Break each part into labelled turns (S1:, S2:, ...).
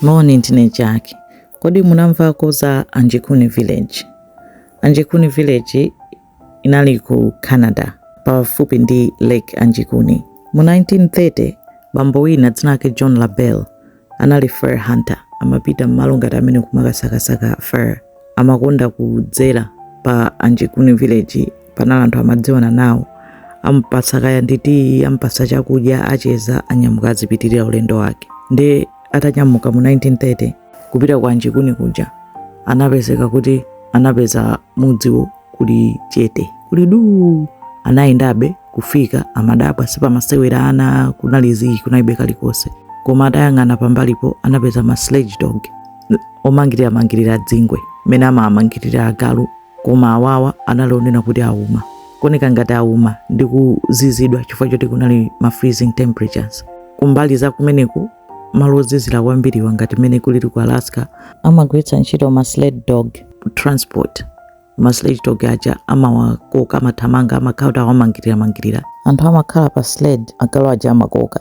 S1: Moni ndine Jack. Kodi munamvako za Anjikuni Village? Anjikuni Village inali ku Canada pafupi ndi Lake Anjikuni. Mu 1930 bambo wina dzina lake John LaBelle anali fur hunter, amapita m'malo ngati amene kumakasakasaka fur. Amakonda kudzera pa Anjikuni Village, panali anthu amadziwana nawo ampatsa kaya ndi tiyi ampatsa chakudya acheza anyamuka azipitirira ulendo wake ndi atanyamuka mu 1930 kupita kwa Anjikuni kuja anapezeka kuti anapeza mudziwo kuli chete kuli duu anayendabe kufika amadabwa sipamasewera ana kunali zii kunalibe kalikonse koma atayang'ana pambalipo anapeza ma sled dog omangirira mangirira dzingwe mmene amawamangirira agalu Koma awawa anali ooneka kuti auma, kuoneka ngati auma ndi kuzizidwa chifukwa choti kunali ma freezing temperatures. Kumbali za kumeneku malo ozizira kwambiriwa ngati mmene kulili ku Alaska amagwiritsa ntchito ma sled dog transport ma sled dog aja amawakoka amathamanga amakhala kuti awamangirira mangirira anthu amakhala pa sled agalu aja amakoka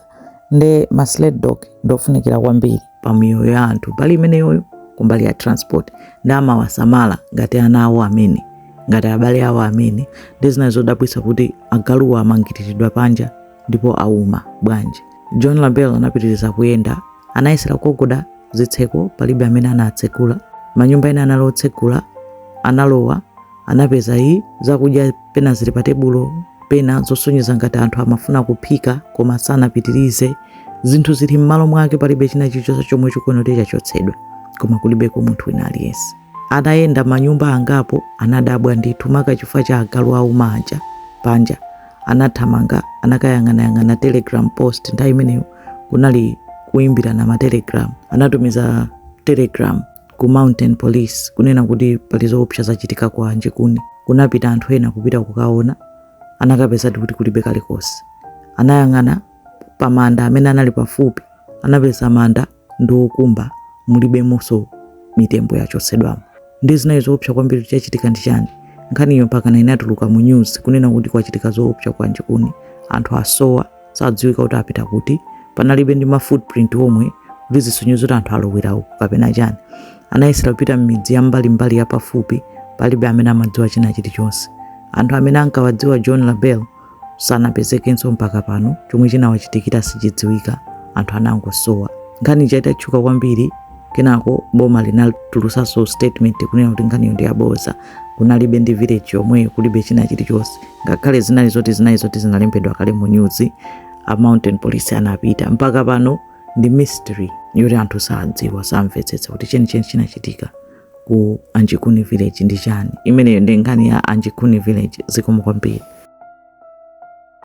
S1: nde ma sled dog ndiofunikira kwambiri pa miyoyo ya anthu mbali imeneyoyo kumbali ya transport nde amawasamala ngati ana awo amene ngati abale awo amene nde zinali zodabwitsa kuti agaluwa amangiriridwa panja ndipo auma bwanji John LaBelle anapitiriza kuyenda anayesera kugogoda zitseko palibe amene anatsegula manyumba ena anali otsegula analowa Anapeza ii zakudya pena zili pa tebulo pena zosonyeza ngati anthu amafuna kuphika koma sanapitirize. Zinthu zili m'malo mwake palibe china chilichonse chomwe chikuoneka kuti chachotsedwa koma kulibeko munthu wina aliyense. Atayenda manyumba angapo anadabwa ndithu maka chifukwa cha agalu auma aja panja. Anathamanga anakayang'anayang'ana telegram post nthawi imeneyo kunali kuimbirana matelegram. Anatumiza telegram ku mountain police kunena kuti pali zoopsa zachitika kwa Anjikuni kunapita anthu ena kupita kukaona anakapezadi kuti kulibe kalikonse anayang'ana pa manda amene anali pafupi anapeza manda ndi okumba mulibemonso mitembo yachotsedwamo nde zinali zoopsa kwambiri chachitika ndi chani nkhaniyo mpakana inatuluka mu news kunena kuti kwachitika zoopsa kwa Anjikuni anthu asowa sadziwika kuti apita kuti panalibe ndi ma footprint omwe kuti zisonyeze kuti anthu alowera uku kapena chani anayesera kupita m'midzi ya mbalimbali yapafupi palibe amene amadziwa china chilichonse anthu amene ankawadziwa John LaBelle sanapezekenso mpaka pano chomwe chinawachitikira sichidziwika anthu anangosowa nkhani ija itatchuka kwambiri kenako boma linatulusanso statement kunena kuti nkhaniyo ndi yabodza kunalibe ndi village yomweyo kulibe china chilichonse ngakhale zinali zoti zinali zoti zinalembedwa kale mu news a mounted police anapita mpaka pano ndi mystery yoti anthu sadziwa samvetsetsa kuti chenicheni chinachitika ku anjikuni village ndi chani imeneyo ndi nkhani ya anjikuni village zikomo kwambiri